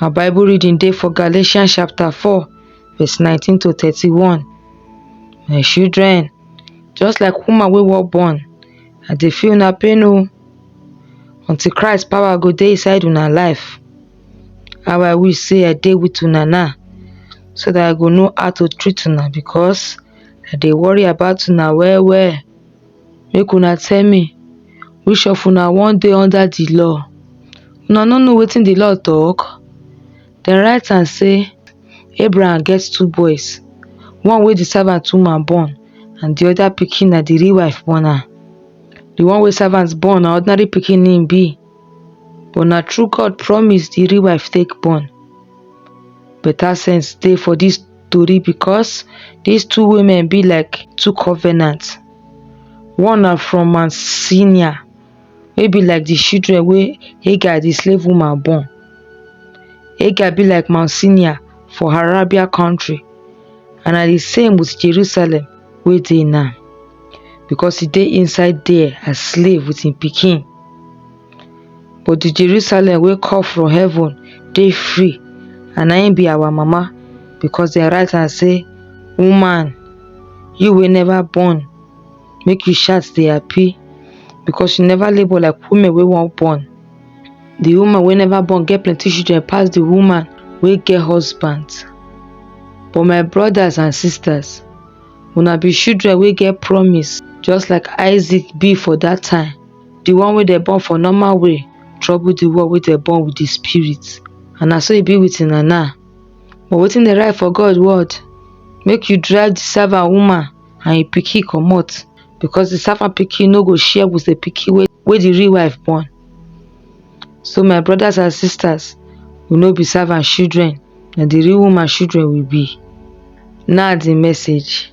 Our Bible reading dey for Galatians chapter 4, verse 19 to 31. My children, just like woman wey wan born, I dey feel una pain o. Until Christ power go dey inside una life. How I wish say I dey with una now so that I go know how to treat una because I dey worry about una well well. make una tell me which of una wan dey under the law una no know wetin the law talk dem write am say Abraham get two boys one wey the servant woman born and the other pikin na the real wife born am the one wey servant born na ordinary pikin him be but na true God promise the real wife take born better sense dey for this tori because dis two women be like two covenant. One na from Mount Sinai wey be like di children wey Hagar di slave woman born. Hagar be like Mount Sinai for Arabia country and na di same wit Jerusalem wey dey now because e dey inside there as slave wit im pikin. But the Jerusalem wey come from heaven dey free and na im be our mama because dem write am say, Woman, you wey never born, make you shout dey happy because you never labour like women wey wan born. The woman wey never born get plenty children pass the woman wey get husband. But my brothers and sisters, una be children wey get promise just like Isaac be for that time. the one wey dem born for normal way trouble the one wey dem born with the spirit and na so e be with una now but wetin dey write for god word make you drive the servant woman and im pikin comot because the servant pikin no go share with the pikin wey wey the real wife born so my brothers and sisters we no be servant children na the real woman children we be now the message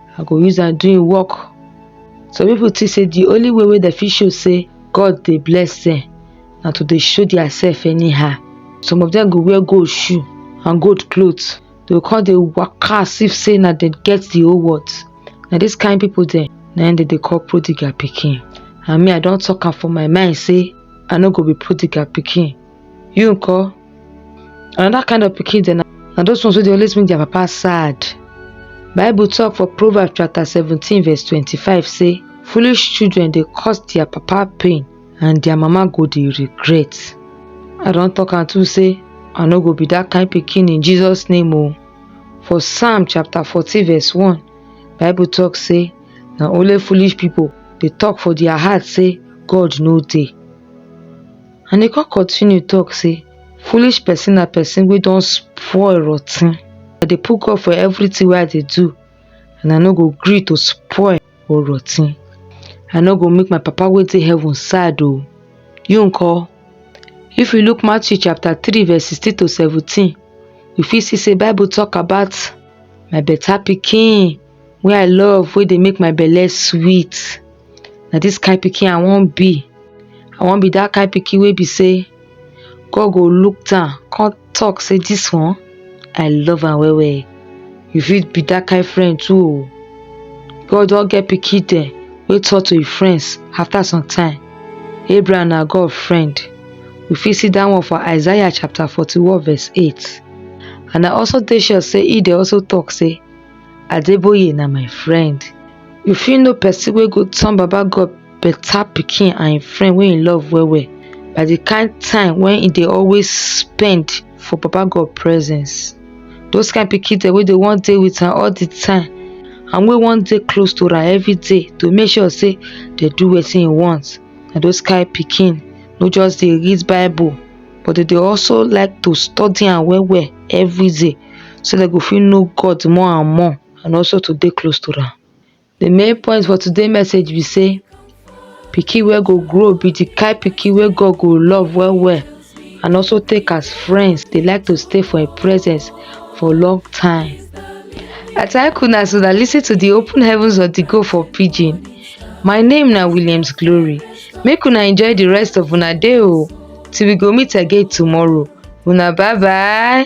i go use am do im work some people think say the only way wey dem fit show say god dey bless them na to dey show their self anyhow some of them go wear gold shoe and gold cloth they go come dey waka as if say na dem get the whole world na this kind people dem na im dem dey call prodigal pikin and me i don talk am for my mind say i no go be prodigal pikin you nko another kind of pikin dem na those ones wey dey always make their papa sad bible talk for proverbs chapter seventeen verse twenty-five say foolish children dey cause their papa pain and their mama go dey regret i don talk am too say i no go be that kind pikin in jesus name o for psalm chapter fourteen verse one bible talk say na only foolish people dey talk for their heart say god no dey And e come continue talk say, foolish person na person wey don spoil rotten. I dey put God for everything wey I dey do and I no go gree to spoil or rotten. I no go make my papa wey dey heaven sad o. You nko? If you look Matthew chapter 3 verse 16 to 17, you fit see say Bible talk about my better pikin wey I love, wey dey make my belle sweet. Na dis kain pikin I wan be. I wan be dat kain pikin wey be sey God go look down come talk say dis one I love am well well. You fit be dat kain friend too o. God don get pikin dem wey talk to im friends after some time. Abraham na God friend. You fit see dat one for Isaiah chapter forty one verse eight and I also dey sure sey im dey also talk sey Adeboye na my friend. You fit know person wey go turn Baba God better pikin and im friend wey im love well well by the kind time wey im dey always spend for Baba God presence. Those kind pikin dem wey dey wan dey with am all the time and wey wan dey close to am every day to make sure say dey do wetin im want. Na those kind pikin no just dey read bible but dey dey also like to study am well well every day. so dem go fit know God more and more and also to dey close to am. The main point for today message be say pikin wey go grow be the kind pikin wey God go love well well and also take as friends dey like to stay for im presence for long time. I thank una as una lis ten to the open heavens of the go for pidgin. My name na Williams Glory. Make una enjoy the rest of una day o till we go meet again tomorrow. Una bye bye.